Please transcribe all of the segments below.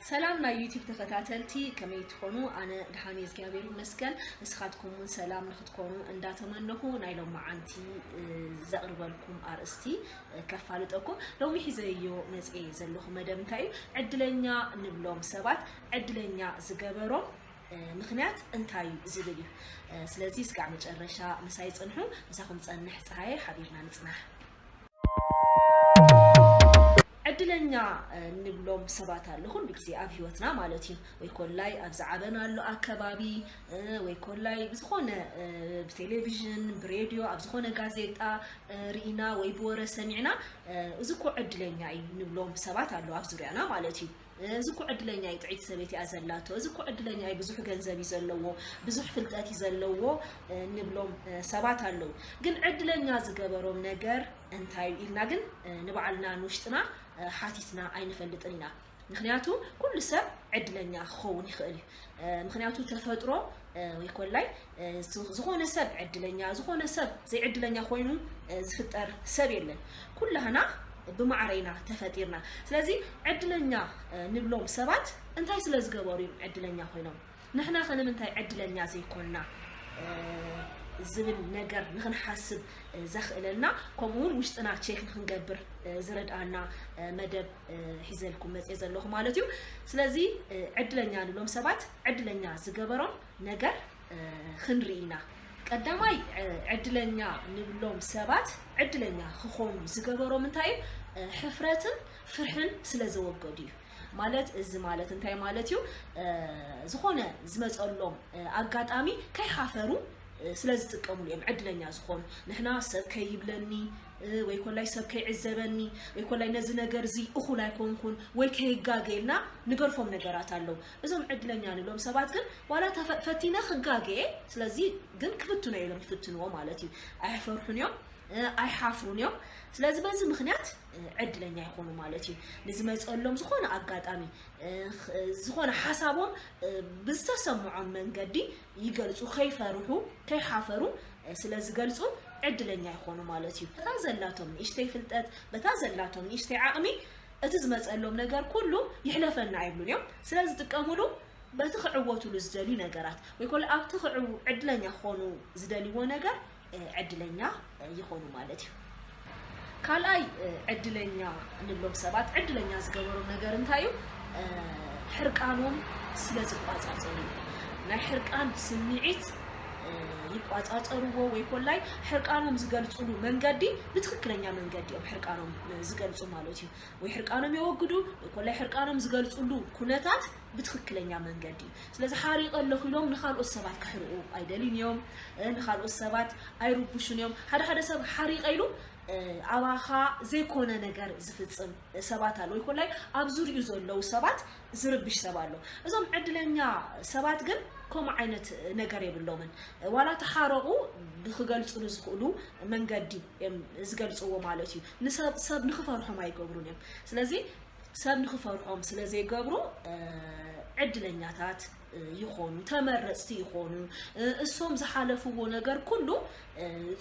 ሰላም ናይ ዩቲብ ተኸታተልቲ ከመይ ትኾኑ ኣነ ድሓን እግዚኣብሔር ይመስገን ንስኻትኩም እውን ሰላም ንክትኮኑ እንዳተመነኹ ናይ ሎም መዓንቲ ዘቕርበልኩም ኣርእስቲ ከፋልጠኩም ሎሚ ሒዘዮ መፅ ዘለኹ መደብ እንታይ እዩ ዕድለኛ ንብሎም ሰባት ዕድለኛ ዝገበሮም ምኽንያት እንታይ እዩ ዝብል እዩ። ስለዚ እስካዕ መጨረሻ ምሳይ ፅንሑ፣ ምሳኹም ፀንሕ ፀሃየ ሓቢርና ንፅናሕ። ዕድለኛ ንብሎም ሰባት ኣሎ ኩሉ ግዜ ኣብ ሂወትና ማለት እዩ ወይ ኮላይ ኣብ ዝዓበናሉ ኣከባቢ ወይ ኮላይ ብዝኾነ ብቴሌቪዥን ብሬድዮ ኣብ ዝኾነ ጋዜጣ ርኢና ወይ ብወረ ሰሚዕና እዚ እኮ ዕድለኛ እዩ ንብሎም ሰባት ኣሎ ኣብ ዙርያና ማለት እዩ እዚ እኮ ዕድለኛ እዩ ጥዕይቲ ሰበይቲ እያ ዘላቶ እዚ እኮ ዕድለኛ እዩ ብዙሕ ገንዘብ እዩ ዘለዎ ብዙሕ ፍልጠት እዩ ዘለዎ ንብሎም ሰባት ኣለዉ ግን ዕድለኛ ዝገበሮም ነገር እንታይ እዩ ኢልና ግን ንባዕልና ንውሽጥና ሓቲትና ኣይንፈልጥን ኢና ምክንያቱ ኩሉ ሰብ ዕድለኛ ክኸውን ይኽእል እዩ ምክንያቱ ተፈጥሮ ወይ ኮላይ ዝኾነ ሰብ ዕድለኛ ዝኾነ ሰብ ዘይዕድለኛ ኮይኑ ዝፍጠር ሰብ የለን ኩላህና ብማዕረ ኢና ተፈጢርና ስለዚ ዕድለኛ ንብሎም ሰባት እንታይ ስለ ዝገበሩ እዮም ዕድለኛ ኮይኖም ንሕና ከ ንምንታይ ዕድለኛ ዘይኮንና ዝብል ነገር ንክንሓስብ ዘኽእለና ከምኡ እውን ውሽጥና ቼክ ንክንገብር ዝረድኣና መደብ ሒዘልኩም መፅየ ዘለኹ ማለት እዩ ስለዚ ዕድለኛ ንብሎም ሰባት ዕድለኛ ዝገበሮም ነገር ኽንርኢ ኢና። ቀዳማይ ዕድለኛ ንብሎም ሰባት ዕድለኛ ክኾኑ ዝገበሮም እንታይ እዩ? ሕፍረትን ፍርሕን ስለ ዘወገዱ እዩ። ማለት እዚ ማለት እንታይ ማለት እዩ? ዝኾነ ዝመፀሎም ኣጋጣሚ ከይሓፈሩ ስለ ዝጥቀምሉ እዮም ዕድለኛ ዝኾኑ። ንሕና ሰብ ከይብለኒ ወይ ኮላይ ሰብ ከይዕዘበኒ ወይ ኮላይ ነዚ ነገር እዚ እኹል ኣይኮንኩን ወይ ከይጋገ ኢልና ንገርፎም ነገራት ኣለዉ። እዞም ዕድለኛ ንብሎም ሰባት ግን ዋላ እታ ፈ- ፈቲነ ክጋገ እየ ስለዚ ግን ክፍትኖ እየ ኢሎም ይፍትንዎ ማለት እዩ ኣይፈርሑን እዮም እ፣ ኣይሓፍሩን እዮም ስለዚ በዚ ምክንያት እ፣ ዕድለኛ ይኾኑ ማለት እዩ ንዝመፀሎም ዝኾነ ኣጋጣሚ እ፣ ኽ- እ፣ ዝኾነ ሓሳቦም እ፣ ብዝተሰምዖም መንገዲ ይገልፁ ከይፈርሑ ከይሓፈሩ እ፣ ስለዝገልፁ ዕድለኛ ይኾኑ ማለት እዩ በታ ዘላቶም ንእሽተይ ፍልጠት በታ ዘላቶም ንእሽተይ ዓቕሚ እቲ ዝመጸሎም ነገር ኩሉ ይሕለፈና ኣይብሉን እዮም ስለ ዝጥቀምሉ በቲ ክዕወቱሉ ዝደልዩ ነገራት ወይ ኮለ ኣብቲ ክዕው ዕድለኛ ክኾኑ ዝደልይዎ ነገር ዕድለኛ ይኾኑ ማለት እዩ ካልኣይ ዕድለኛ ንብሎም ሰባት ዕድለኛ ዝገበሮም ነገር እንታይ እዩ ሕርቃኖም ስለ ዝቋጻጸሩ እዩ ናይ ሕርቃን ስምዒት ይቋፃፀርዎ ወይ ኮላይ ሕርቃኖም ዝገልፅሉ መንገዲ ብትክክለኛ መንገዲ እዮም ሕርቃኖም ዝገልፁ ማለት እዩ ወይ ሕርቃኖም የወግዱ ወይ ኮላይ ሕርቃኖም ዝገልፅሉ ኩነታት ብትክክለኛ መንገዲ እዩ ስለዚ ሓሪቀ ኣለኹ ኢሎም ንካልኦት ሰባት ክሕርቁ ኣይደልዩን እዮም ንካልኦት ሰባት ኣይርብሹን እዮም ሓደ ሓደ ሰብ ሓሪቀ ኢሉ ኣባኻ ዘይኮነ ነገር ዝፍፅም ሰባት ኣለዉ ወይ ኮላይ ኣብ ዙሪኡ ዘለዉ ሰባት ዝርብሽ ሰብ ኣሎ እዞም ዕድለኛ ሰባት ግን ከምኡ ዓይነት ነገር የብሎምን ዋላ ተሓረቑ ብክገልፅሉ ዝኽእሉ መንገዲ እዮም ዝገልፅዎ ማለት እዩ ንሰብ ሰብ ንክፈርሖም ኣይገብሩን እዮም ስለዚ ሰብ ንክፈርሖም ስለዘይገብሩ ዕድለኛታት ይኾኑ ተመረፅቲ ይኾኑ እሶም ዝሓለፍዎ ነገር ኩሉ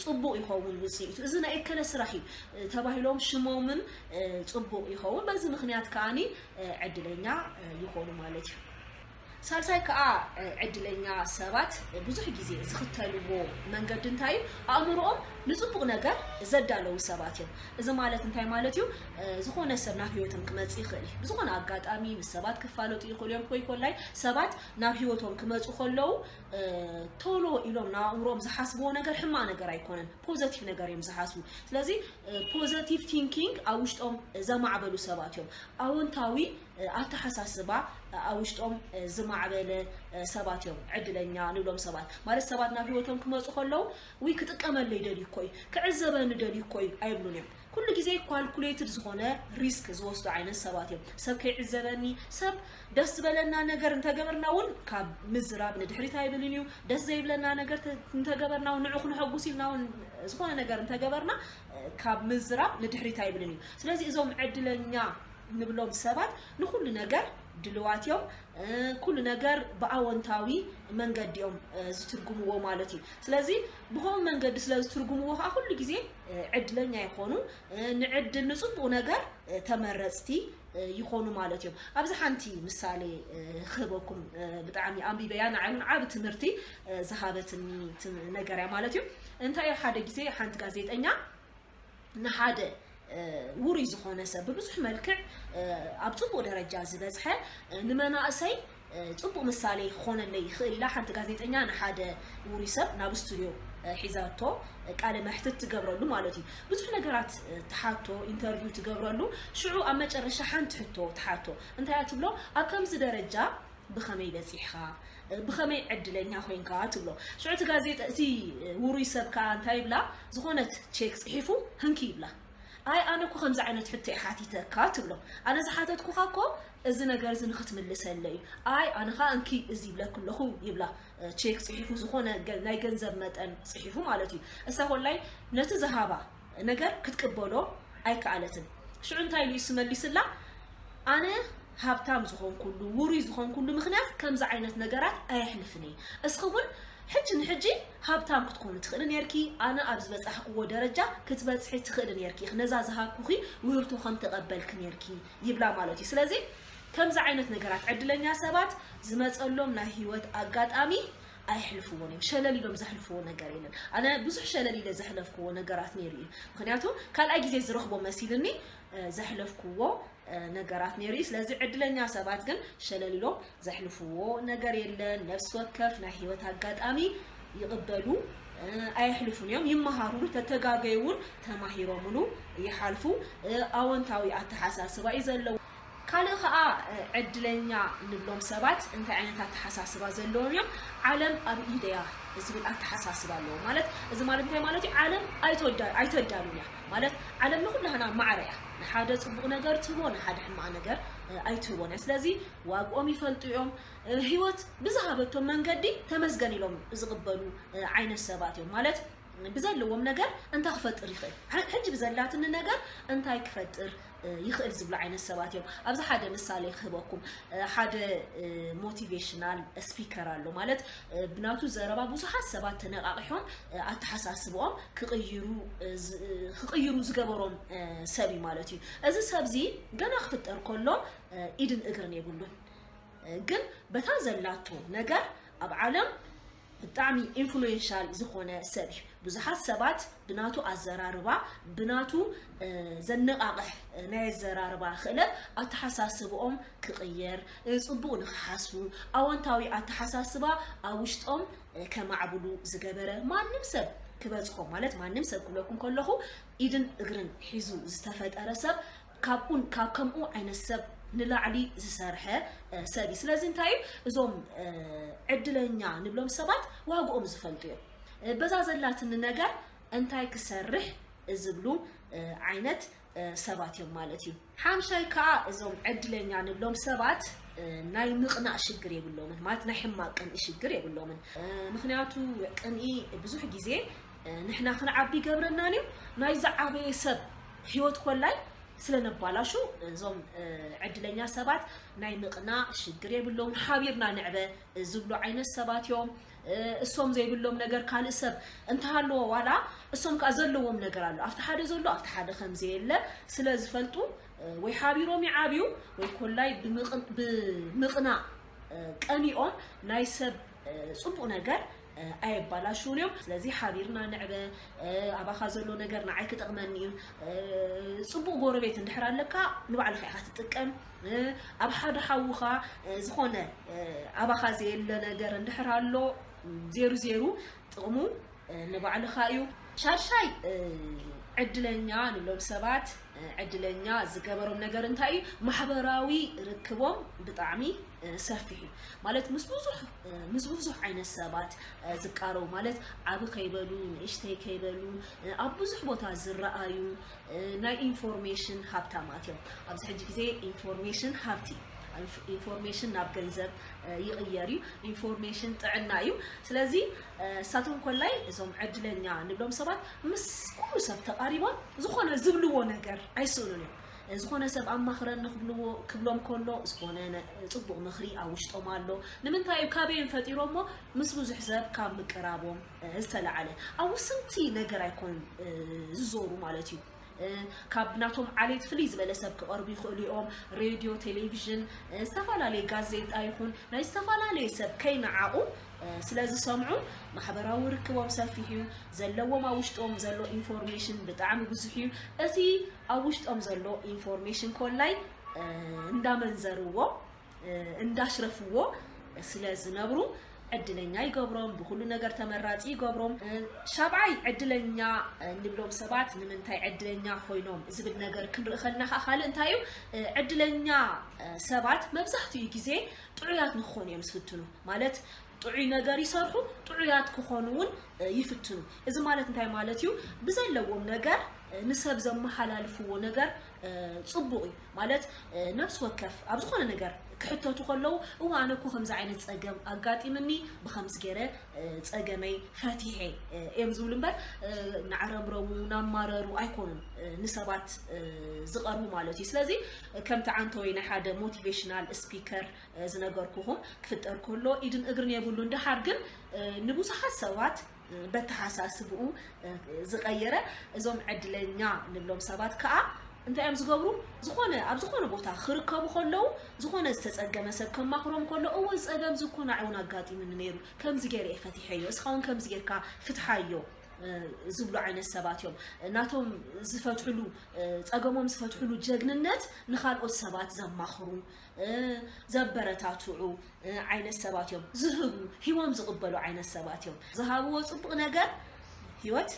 ፅቡቅ ይኸውን ውፅኢቱ እዚ ናይ እከለ ስራሕ እዩ ተባሂሎም ሽሞምን ፅቡቅ ይኸውን በዚ ምክንያት ከዓኒ ዕድለኛ ይኾኑ ማለት እዩ ሳልሳይ ከዓ ዕድለኛ ሰባት ብዙሕ ጊዜ ዝኽተልዎ መንገዲ እንታይ እዩ ኣእምሮኦም ንፅቡቅ ነገር ዘዳለዉ ሰባት እዮም እዚ ማለት እንታይ ማለት እዩ ዝኾነ ሰብ ናብ ሂወቶም ክመጽእ ይኽእል እዩ ብዝኾነ ኣጋጣሚ ምስ ሰባት ክፋለጡ ይኽእሉ እዮም ኮይ ኮላይ ሰባት ናብ ሂወቶም ክመጹ ከለዉ ቶሎ ኢሎም ናብ ኣእምሮኦም ዝሓስብዎ ነገር ሕማቅ ነገር ኣይኮነን ፖዘቲቭ ነገር እዮም ዝሓስቡ ስለዚ ፖዘቲቭ ቲንኪንግ ኣብ ውሽጦም ዘማዕበሉ ሰባት እዮም ኣወንታዊ ኣተሓሳስባ ኣብ ውሽጦም ዝማዕበለ ሰባት እዮም ዕድለኛ ንብሎም ሰባት ማለት ሰባት ናብ ሂወቶም ክመጹ ከለዉ ውይ ክጥቀመለይ ደልዩ እኮ እዩ ክዕዘበኒ ደልዩ እኮ እዩ ኣይብሉን እዮም ኩሉ ግዜ ኳልኩሌትድ ዝኾነ ሪስክ ዝወስዱ ዓይነት ሰባት እዮም። ሰብ ከይዕዘበኒ፣ ሰብ ደስ ዝበለና ነገር እንተገበርና እውን ካብ ምዝራብ ንድሕሪት ኣይብልን እዩ። ደስ ዘይብለና ነገር ተ- እንተገበርና እውን ንዑ ክነሐጉስ ኢልና እውን ዝኾነ ነገር እንተገበርና እ፣ ካብ ምዝራብ ንድሕሪት ኣይብልን እዩ። ስለዚ እዞም ዕድለኛ ንብሎም ሰባት ንኩሉ ነገር ድልዋት እዮም እ፣ ኩሉ ነገር ብኣወንታዊ መንገዲ እዮም እ፣ ዝትርጉምዎ ማለት እዩ። ስለዚ ብኸምኡ መንገዲ ስለ ዝትርጉምዎ ከዓ ኩሉ ግዜ ዕድለኛ ይኾኑ ንዕድል ንፅቡቅ ነገር ተመረፅቲ ይኾኑ ማለት እዮም ኣብዚ ሓንቲ ምሳሌ ክህበኩም ብጣዕሚ ኣንቢበያ ንዓይ እውን ዓብ ትምህርቲ ዝሃበትኒ ነገር እያ ማለት እዩ እንታይ እዩ ሓደ ግዜ ሓንቲ ጋዜጠኛ ንሓደ ውሩይ ዝኾነ ሰብ ብብዙሕ መልክዕ ኣብ ፅቡቅ ደረጃ ዝበፅሐ ንመናእሰይ ፅቡቅ ምሳሌ ክኾነለይ ይኽእል ኢላ ሓንቲ ጋዜጠኛ ንሓደ ውሩይ ሰብ ናብ ስቱድዮ ሒዛቶ ቃለ መሕትት ትገብረሉ ማለት እዩ ብዙሕ ነገራት ትሓቶ ኢንተርቪው ትገብረሉ ሽዑ ኣብ መጨረሻ ሓንቲ ሕቶ ትሓቶ እንታይ እያ ትብሎ ኣብ ከምዚ ደረጃ ብኸመይ በጺሕካ? ብኸመይ ዕድለኛ ኮይንካ? ትብሎ። ሽዑ እቲ ጋዜጠ እቲ ውሩይ ሰብ ከኣ እንታይ ይብላ፣ ዝኾነት ቼክ ጽሒፉ ህንኪ ይብላ። ኣይ ኣነ እኮ ከምዚ ዓይነት ሕቶ እየ ሓቲተካ ትብሎ። ኣነ ዝሓተትኩኻ እኮ እዚ ነገር እዚ ንኽትምልሰለይ እዩ። ኣይ ኣነ ከኣ እንኪ እዚ ይብለኪ ኣለኹ ይብላ። ቼክ ጽሒፉ ዝኾነ ናይ ገንዘብ መጠን ጽሒፉ ማለት እዩ። እሳ ኮላይ ነቲ ዝሃባ ነገር ክትቅበሎ ኣይከኣለትን። ሽዑ እንታይ ኢሉ ኢሱ መሊሱላ፣ ኣነ ሃብታም ዝኾንኩሉ፣ ውሩይ ዝኾንኩሉ ምኽንያት ከምዚ ዓይነት ነገራት ኣየሕልፍን እየ። እስኺ እውን ሕጂ ንሕጂ ሃብታም ክትኮኒ ትኽእሊ ኔርኪ፣ ኣነ ኣብ ዝበጻሕክዎ ደረጃ ክትበጽሒ ትኽእሊ ኔርኪ ኢኺ፣ ነዛ ዝሃብኩኺ ውህብቶ ከም ተቐበልኪ ኔርኪ ይብላ ማለት እዩ። ስለዚ ከምዚ ዓይነት ነገራት ዕድለኛ ሰባት ዝመጸሎም ናይ ህይወት ኣጋጣሚ ኣየሕልፍዎን እዮም ሸለል ኢሎም ዘሕልፍዎ ነገር የለን ኣነ ብዙሕ ሸለል ኢለ ዘሕለፍክዎ ነገራት ነይሩ እዩ ምክንያቱ ካልኣይ ግዜ ዝረኽቦ መሲልኒ ዘሕለፍክዎ ነገራት ነይሩ እዩ ስለዚ ዕድለኛ ሰባት ግን ሸለል ኢሎም ዘሕልፍዎ ነገር የለን ነፍሲ ወከፍ ናይ ሂወት ኣጋጣሚ ይቕበሉ ኣየሕልፉን እዮም ይመሃሩሉ ተተጋገዩ እውን ተማሂሮምሉ ይሓልፉ ኣወንታዊ ኣተሓሳስባ እዩ ዘለዎ ካልእ ከኣ ዕድለኛ ንብሎም ሰባት እንታይ ዓይነት ኣተሓሳስባ ዘለዎም እዮም? ዓለም ኣብ ኢደይ እያ ዝብል ኣተሓሳስባ ኣለዎም። ማለት እዚ ማለት እንታይ ማለት እዩ? ዓለም ኣይተዳሉን እያ። ማለት ዓለም ንኹላህና ማዕረ እያ። ንሓደ ጽቡቕ ነገር ትህቦ ንሓደ ሕማቕ ነገር ኣይትህቦን እያ። ስለዚ ዋግኦም ይፈልጡ እዮም። ህይወት ብዝሃበቶም መንገዲ ተመስገን ኢሎም ዝቕበሉ ዓይነት ሰባት እዮም። ማለት ብዘለዎም ነገር እንታይ ክፈጥር ይኽእል? ሕጂ ብዘላትኒ ነገር እንታይ ክፈጥር ይኽእል ዝብሉ ዓይነት ሰባት እዮም። ኣብዚ ሓደ ምሳሌ ክህበኩም ሓደ ሞቲቬሽናል ስፒከር ኣሎ ማለት ብናቱ ዘረባ ብዙሓት ሰባት ተነቓቒሖም ኣተሓሳስብኦም ክቕይሩ ክቕይሩ ዝገበሮም ሰብ እዩ ማለት እዩ። እዚ ሰብ እዚ ገና ክፍጠር ከሎ ኢድን እግርን የብሉን ግን በታ ዘላቶ ነገር ኣብ ዓለም ብጣዕሚ ኢንፍሉዌንሻል ዝኾነ ሰብ እዩ። ብዙሓት ሰባት ብናቱ ኣዘራርባ ብናቱ ዘነቓቕሕ ናይ ኣዘራርባ ክእለት ኣተሓሳስብኦም ክቕየር፣ ጽቡቕ ንኽሓስቡ፣ ኣወንታዊ ኣተሓሳስባ ኣብ ውሽጦም ከማዕብሉ ዝገበረ ማንም ሰብ ክበጽሖ ማለት ማንም ሰብ ክብለኩም ከለኹ ኢድን እግርን ሒዙ ዝተፈጠረ ሰብ ካብኡን ካብ ከምኡ ዓይነት ሰብ ንላዕሊ ዝሰርሐ ሰብ እዩ። ስለዚ እንታይ እዩ እዞም ዕድለኛ ንብሎም ሰባት ዋግኦም ዝፈልጡ እዮም። በዛ ዘላትኒ ነገር እንታይ ክሰርሕ ዝብሉ ዓይነት ሰባት እዮም ማለት እዩ። ሓምሻይ ከዓ እዞም ዕድለኛ ንብሎም ሰባት ናይ ምቕናእ ሽግር የብሎምን ማለት ናይ ሕማቅ ቅንኢ ሽግር የብሎምን። ምክንያቱ ቅንኢ ብዙሕ ግዜ ንሕና ክንዓቢ ይገብረናን እዩ ናይ ዝዓበየ ሰብ ህይወት ኮላይ ስለነባላሹ እዞም ዕድለኛ ሰባት ናይ ምቕና ሽግር የብሎም ሓቢርና ንዕበ ዝብሉ ዓይነት ሰባት እዮም እሶም ዘይብሎም ነገር ካልእ ሰብ እንተሃለዎ ዋላ እሶም ከዓ ዘለዎም ነገር ኣሎ ኣብቲ ሓደ ዘሎ ኣብቲ ሓደ ከምዘየለ ስለ ዝፈልጡ ወይ ሓቢሮም ይዓብዩ ወይ ኮላይ ብምቕና ቀኒኦም ናይ ሰብ ፅቡቅ ነገር ኣየባላሽዉን እዮም ስለዚ ሓቢርና ንዕበ ኣባኻ ዘሎ ነገር ንዓይ ክጠቕመኒ እዩ ፅቡቕ ጎረቤት እንድሕር ኣለካ ንባዕልኻ ኢኻ ትጥቀም ኣብ ሓደ ሓውኻ ዝኾነ ኣባኻ ዘየለ ነገር እንድሕር ኣሎ ዜሩ ዜሩ ጥቕሙ ንባዕልኻ እዩ ሻድሻይ ዕድለኛ ንብሎም ሰባት ዕድለኛ ዝገበሮም ነገር እንታይ እዩ ማሕበራዊ ርክቦም ብጣዕሚ ሰፊሕ እዩ ማለት ምስ ብዙሕ ምስ ብዙሕ ዓይነት ሰባት ዝቃረቡ ማለት ዓብ ከይበሉ ንእሽተይ ከይበሉ ኣብ ብዙሕ ቦታ ዝረኣዩ ናይ ኢንፎርሜሽን ሃብታማት እዮም ኣብዚ ሕጂ ግዜ ኢንፎርሜሽን ሃብቲ ኢንፎርሜሽን ናብ ገንዘብ ይቕየር እዩ ኢንፎርሜሽን ጥዕና እዩ ስለዚ እሳቶም ኮላይ እዞም ዕድለኛ ንብሎም ሰባት ምስ ኩሉ ሰብ ተቓሪቦም ዝኾነ ዝብልዎ ነገር ኣይስእኑን እዮም ዝኾነ ሰብ ኣማኽረኒ ክብልዎ ክብሎም ከሎ ዝኾነ ጽቡቕ ምኽሪ ኣብ ውሽጦም ኣሎ። ንምንታይ እዩ ካበይም ፈጢሮሞ ምስ ብዙሕ ሰብ ካብ ምቅራቦም ዝተላዕለ ኣብ ውስንቲ ነገር ኣይኮን ዝዞሩ ማለት እዩ። ካብ ናቶም ዓሌት ፍልይ ዝበለ ሰብ ክቐርቡ ይኽእሉ እዮም ሬድዮ ቴሌቭዥን ዝተፈላለየ ጋዜጣ ይኹን ናይ ዝተፈላለየ ሰብ ከይነዓቑ ስለ ዝሰምዑ ማሕበራዊ ርክቦም ሰፊሕ እዩ ዘለዎም ኣብ ውሽጦም ዘሎ ኢንፎርሜሽን ብጣዕሚ ብዙሕ እዩ እቲ ኣብ ውሽጦም ዘሎ ኢንፎርሜሽን ኮላይ እንዳመንዘርዎ እንዳሽረፍዎ ስለ ዝነብሩ ዕድለኛ ይገብሮም ብኩሉ ነገር ተመራፂ ይገብሮም ሻብዓይ ዕድለኛ ንብሎም ሰባት ንምንታይ ዕድለኛ ኮይኖም ዝብል ነገር ክንርኢ ከለና ከዓ ካልእ እንታይ እዩ ዕድለኛ ሰባት መብዛሕትኡ ግዜ ጥዑያት ንክኾኑ እዮም ዝፍትኑ ማለት ጥዑይ ነገር ይሰርሑ፣ ጥዑያት ክኾኑ እውን ይፍትኑ። እዚ ማለት እንታይ ማለት እዩ? ብዘለዎም ነገር ንሰብ ዘመሓላልፍዎ ነገር ጽቡቕ እዩ። ማለት ነብሲ ወከፍ ኣብ ዝኾነ ነገር ክሕተቱ ከለዉ እወ ኣነ እኮ ከምዚ ዓይነት ጸገም ኣጋጢምኒ ብከምዚ ገይረ ጸገመይ ፈቲሐ እዮም ዝብሉ እምበር ናዕረምረሙ ናማረሩ ኣይኮኑን ንሰባት ዝቐርቡ ማለት እዩ። ስለዚ ከምቲ ዓንተወይ ናይ ሓደ ሞቲቬሽናል ስፒከር ዝነገርኩኹም ክፍጠር ከሎ ኢድን እግርን የብሉን ደሓር ግን ንብዙሓት ሰባት በተሓሳስብኡ ዝቐየረ እዞም ዕድለኛ ንብሎም ሰባት ከዓ እንታይ እዮም ዝገብሩ ዝኾነ ኣብ ዝኾነ ቦታ ክርከቡ ከለዉ ዝኾነ ዝተፀገመ ሰብ ከማኽሮም ከሎ እወ ፀገም ዝኮ ናዕ እውን ኣጋጢሙኒ ነይሩ ከምዚ ገይረ እየ ፈቲሐዮ እስኻ እውን ከምዚ ጌርካ ፍትሓዮ ዝብሉ ዓይነት ሰባት እዮም ናቶም ዝፈትሕሉ ፀገሞም ዝፈትሕሉ ጀግንነት ንካልኦት ሰባት ዘማኽሩ ዘበረታትዑ ዓይነት ሰባት እዮም ዝህቡ ሂቦም ዝቕበሉ ዓይነት ሰባት እዮም ዝሃብዎ ፅቡቕ ነገር ሂወት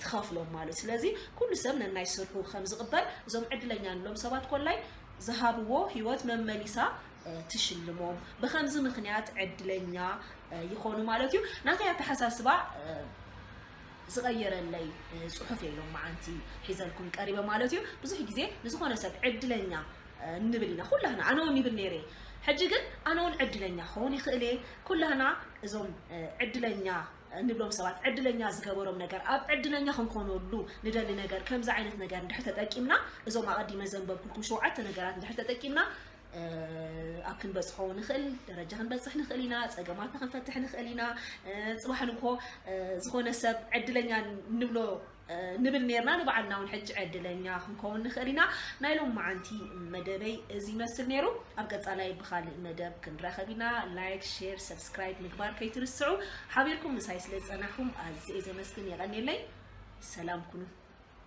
ትኸፍሎም ማለት ስለዚ ኩሉ ሰብ ነናይ ስርሑ ከም ዝቕበል እዞም ዕድለኛ ንሎም ሰባት ኮላይ ዝሃብዎ ሂወት መመሊሳ ትሽልሞም ብከምዚ ምክንያት ዕድለኛ ይኾኑ ማለት እዩ ናተይ ኣተሓሳስባ ዝቐየረለይ ፅሑፍ የሎም መዓንቲ ሒዘልኩም ቀሪበ ማለት እዩ ብዙሕ ግዜ ንዝኾነ ሰብ ዕድለኛ ንብል ኢና ኩላህና ኣነ ውን ይብል ነይረ ሕጂ ግን ኣነ ውን ዕድለኛ ክኸውን ይኽእል እየ ኩላህና እዞም ዕድለኛ ንብሎም ሰባት ዕድለኛ ዝገበሮም ነገር ኣብ ዕድለኛ ክንኮነሉ ንደሊ ነገር ከምዚ ዓይነት ነገር እንድሕር ተጠቂምና እዞም ኣቐዲመ ዘንበብኩልኩም ሸውዓተ ነገራት እንድሕር ተጠቂምና ኣብ ክንበፅሖ ንኽእል ደረጃ ክንበፅሕ ንኽእል ኢና ፀገማትና ክንፈትሕ ንኽእል ኢና ፅባሕ ንግሆ ዝኾነ ሰብ ዕድለኛ ንብሎ ንብል ኔርና ንባዕልና እውን ሕጂ ዕድለኛ ክንከውን ንኽእል ኢና ናይ ሎም መዓንቲ መደበይ እዚ ይመስል ነይሩ ኣብ ቀጻላይ ብኻልእ መደብ ክንራኸብ ኢና ላይክ ሼር ሰብስክራይብ ምግባር ከይትርስዑ ሓቢርኩም ምሳይ ስለ ዝጸናሕኩም ኣዝየ ዘመስግን የቐኔለይ ሰላም ኩኑ